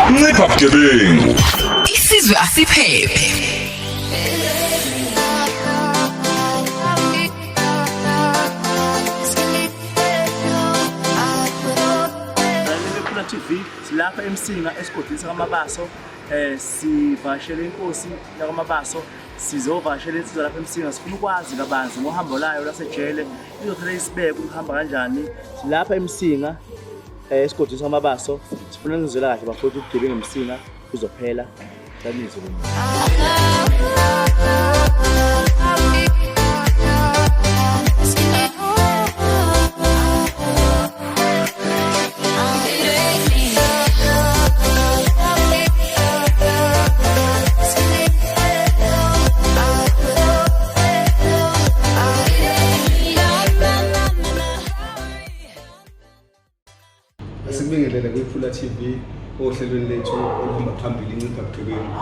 ncipha bugebengu isizwe asiphephe TV silapha emsinga esigodini sakamabaso eh sivashela inkosi yakamabaso sizovashela insizwa lapha emsinga sifuna ukwazi kabanzi ngohambo layo lasejele Kuzothatha isibeke ukuhamba kanjani lapha eMsinga eh, esigodini samabaso sifuna nizwela kahle bafowethu ubugebengu eMsinga kuzophela sanizwe Asibingelele kwiPhula TV ohlelweni lethu oluhamba phambili incipha bugebengu.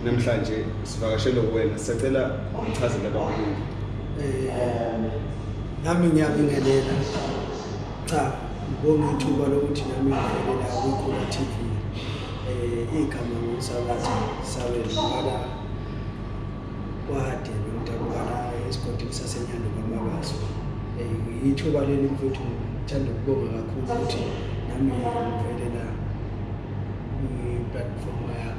Namhlanje sivakashele kuwena sicela uchazele abakhulu. um nami ngiyabingelela cha ngibonga ithuba lokuthi nami ngivelela kwikhula t v um igama ngomsakazi saweziwala kwade nomntakubala esigodini sasenyanda kwamakaso um ithuba leli mfethu ngithanda ukubonga kakhulu ukuthi nami ngivelela kwi-platform yakho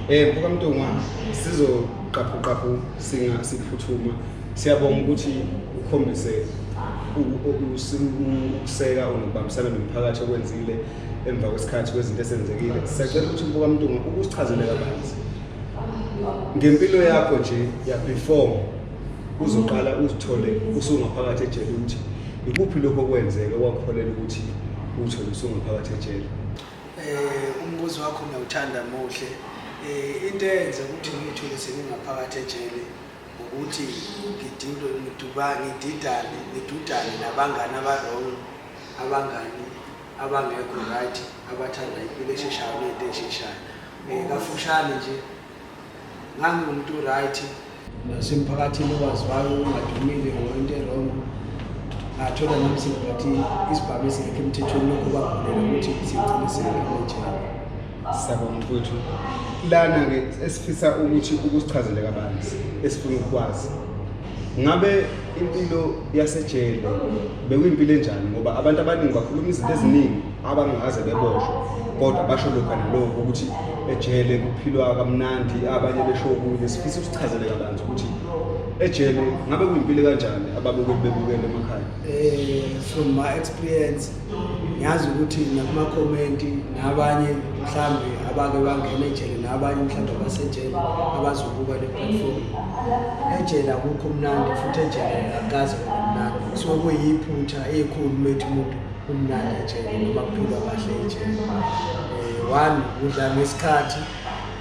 Eh mfoka Mtungwa sizoqaphu qaphu singa siphuthuma siyabonga ukuthi ukhombise ukuseka unokubambisana nomphakathi okwenzile emva kwesikhathi kwezinto esenzekile siyacela ukuthi mfoka Mtungwa ukusichazele kabanzi ngempilo yakho nje ya before uzoqala uzithole usungaphakathi ejele ukuthi ikuphi lokho okwenzeke wakholela ukuthi uthole usungaphakathi ejele um umbuzo wakho ngiyawuthanda muhle um into eyenze ukuthi ngiyithole sengingaphakathi ejele ukuthi ngidinto ngiduba ngididane ngidudane nabangani abarong abangani abangekho right abathanda impilo esheshayo nento esheshayo um kafushane nje ngangiwumuntu right nasemphakathini owaziwayo ungadumile ngoyinto erong ngathola nami sengathi isibhamu esingekho emthethweni lokhu kwavulela ukuthi sigcine singekhoenjena siyabonga mfowethu lana-ke esifisa ukuthi ukusichazele kabanzi esifuna ukukwazi ngabe impilo yasejele bekuyimpilo enjani ngoba abantu abaningi bakhuluma izinto eziningi abangaze beboshwe kodwa basho lokhu nalokho ukuthi ejele kuphilwa kamnandi abanye besho okunye sifisa ukusichazele kabanzi ukuthi ejele ngabe kuyimpilo kanjani ababukeli bebukele emakhaya um from my experience ngiyazi ukuthi nakumakhomenti nabanye mhlawumbe abake bangena ejele nabanye mhlawumbe abasejele abazobuka le platform ejele akukho mnandi futhi ejele akukaze mnandi kusuke kuyiphutha ekhulu methi umuntu umnandi ejele noma kuphilwa kahle ejele um one udla ngesikhathi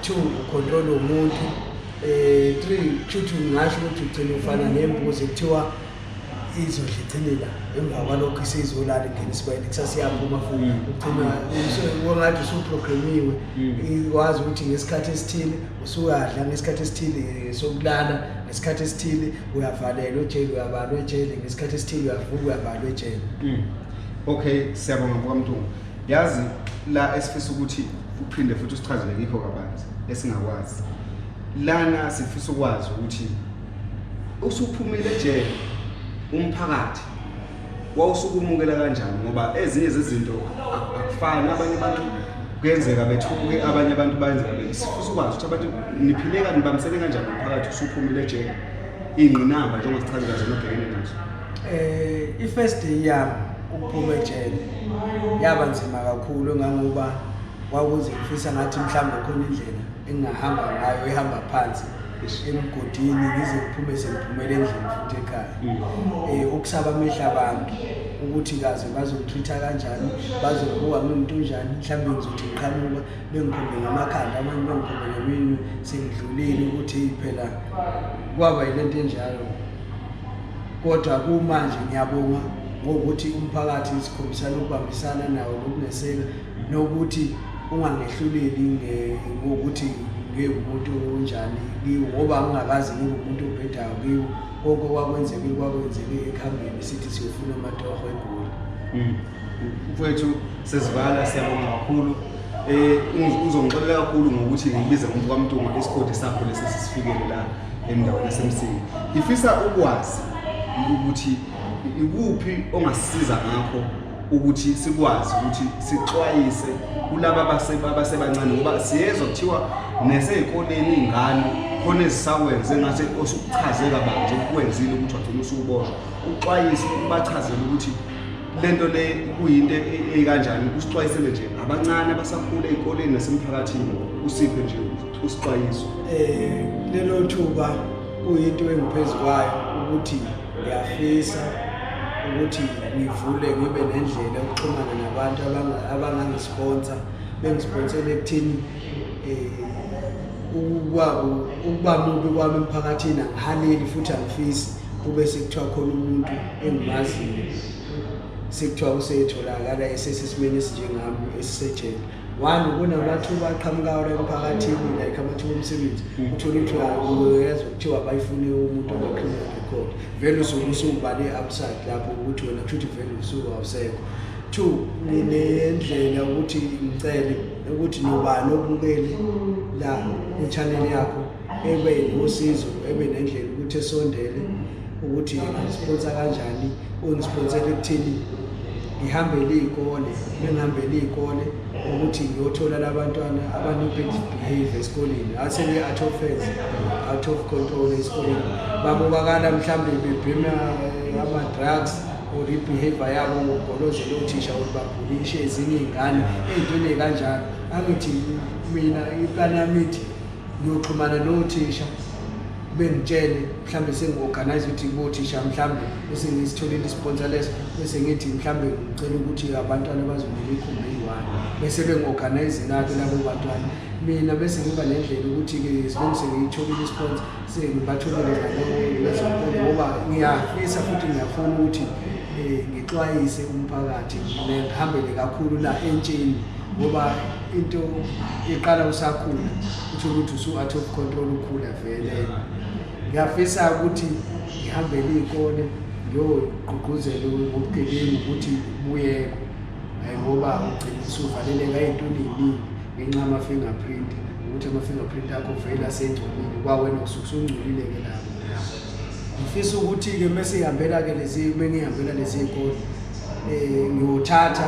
two ucontrol womuntu um three kusho ukuthi ngingasho ukuthi ugcine ufana nembuzi kuthiwa izodla icinela emva kwalokho isizolala ingena isibele kusase yaphuma futhi mm. ugcina wengathi usuprogramiwe mm. wazi ukuthi ngesikhathi esithile usuyadla ngesikhathi esithile eh, sokulala ngesikhathi esithile uyavalelwa ejele uyabalwa ejele ngesikhathi esithile uyavuka uyavalwa ejele mm. okay siyabonga mkamntungwa yazi la esifisa ukuthi uphinde futhi usichazele ngikho kabanzi esingakwazi lana sifisa ukwazi ukuthi usuphumile ejele umphakathi wawusukumukela kanjani ngoba ezinye zezinto akufani abanye abantu kuyenzeka bethuke abanye abantu bayenzeka besifisa ukwazi ukuthi abantu niphile kanti nibambisene kanjani umphakathi usuphumile ejele iy'ngqinamba njengoba sichazela zona obhekene nazo um i-first day yami ukuphuma ejele yaba nzima kakhulu ngangoba kwakuze ngifisa ngathi mhlawumbe khona indlela engingahamba ngayo ihamba phansi ngishiye emgodini ngize ngiphume sengiphumele endlini futhi ekhaya um ukusaba amehla abantu ukuthi kaze bazongitreat-a kanjani bazongibuka ngiwumuntu unjani mhlawumbe ngizothi ngiqhamuka bengikhombe ngamakhanda abanye bengikhombe ngeminwe sengidlulile ukuthi phela kwaba yile nto enjalo kodwa kumanje ngiyabonga ngokuthi umphakathi sikhombisana ukubambisana nawo nokuneseka nokuthi ungangehluleli ngokuthi ngiwumuntu onjani kiwo ngoba ngingakazi ngiwumuntu obhedayo kiwo konke okwakwenzekile kwakwenzeke ekuhambeni sithi siyofuna amatoho egoli hmm. mfowethu sesivala siyabonga kakhulu um uzongixolela kakhulu ngokuthi ngibize umuntu kwamntuma isigodi sakho lesi sisifikele la endaweni yasemsini ngifisa ukwazi ukuthi ikuphi ongasisiza ngakho ukuthi sikwazi ukuthi sixwayise kulaba abasebancane ngoba siyezwa kuthiwa nesey'koleni iy'ngane khona ezisakwenze ngathi osukuchaze kabanje ukukwenzile ukuthi wagcina usuwuboshwa uxwayise ubachazele ukuthi le nto le kuyinto eyikanjani usixwayisele nje abancane abasakhula ey'koleni nasemphakathini usiphe nje usixwayiso um lelo thuba kuyinto engiphezu kwayo ukuthi Ngiyafisa ukuthi ngivule ngibe nendlela yokuxhumana nabantu abangangisponsa bengisponsele ekuthini um ukuba mubi kwami emphakathini angihaleli futhi angifisi kube sekuthiwa khona umuntu engimaziyo sekuthiwa usetholakala esesesimeni esinjengami esisejele one kunamathuba aqhamukayo la emphakathini like amathuba omsebenzi mm. uthole ukuthi uyezwa kuthiwa bayifune umuntu ongakhuluma record vele usuke usubale upside lapho ukuthi wena kusho ukuthi vele usuke awusekho two nginendlela ukuthi ngicele ukuthi nobani obukele la kwi-channel yakho ebe nosizo ebe nendlela ukuthi esondele ukuthi ngisponsa kanjani ungisponsele ekuthini ngihambele iy'kole bengihambele iy'kole ukuthi ngiyothola labantwana abanopet behavior esikoleni asebe out of phase out of control esikoleni babukakala mhlawumbe bebhema eh, ama-drugs or ibehavior yabo ngokugolozela othisha ukuthi babhulishe ezinye iy'ngane ey'ntweni kanjalo angithi mina iplani yami ithi ngiyoxhumana nothisha bengitshele mhlawumbe sengi-organize ukuthi bothisha mhlawumbe bese ngisitholile isponsa leso bese ngithi mhlawumbe ngicela ukuthi abantwana bazongena ikhumbi eyi-one bese bengi-organize-lake labo bantwana mina bese ngiba nendlela ukuthi-ke sibengise ngiyitholile isponsa sengibatholele nalezonkolo ngoba ngiyafisa futhi ngiyafuna ukuthi um ngixwayise umphakathi ngihambele kakhulu la entsheni ngoba into iqala usakhula uthole ukuthi usu-out of control ukhula vele ngiyafisa ukuthi ngihambele iy'kole ngiyogqugquzela ngobugebengu ukuthi buyekwe um ngoba ugcina usuvaleleka ey'ntweni ey'ningi ngenxa yama-fingerprint ukuthi ama-fingerprint akho vele asengcolile kwawena usuke usungcolile-ke lapho ngifisa ukuthi-ke uma sihambela-ke lezi uma ngihambela lezi y'kole um ngiyothatha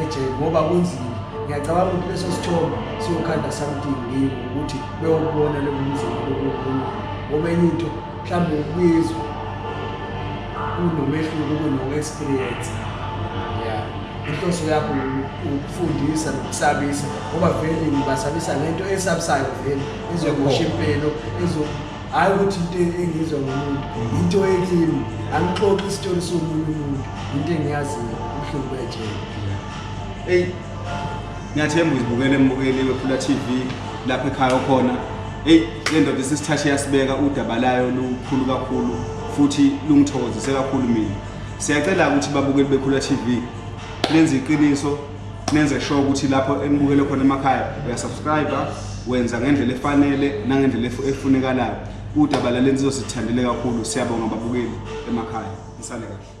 eje ngoba kunzima ngiyacabanga ukuthi leso sithombe siyokhanda something kimi ukuthi beyokubona lo mzimba lokukhuluma ngoba enye into mhlawumbe ukuyizwa kunomehluko kuno-experience ya inhloso yakho ukufundisa nokusabisa ngoba vele ngibasabisa ngento esabisayo vele ezomosha impilo hhayi ukuthi into engizwa ngomuntu into ekimi angixoxi isitori somunye umuntu into engiyaziyo ubuhlungu bejele eyi ngiyathemba uzibukele embukeliwe phula t v lapho ekhaya okhona eyi le ndoda isisithashi yasibeka udaba layo lukhulu kakhulu futhi lungithokozise kakhulu mina siyacela-ke ukuthi babukeli bekhula t v lenze iqiniso nenze sure ukuthi lapho enibukele khona emakhaya uyasubscriber wenza ngendlela efanele nangendlela efunekalayo udaba lalensizwa sithandile kakhulu siyabonga babukeli emakhaya nisale kahle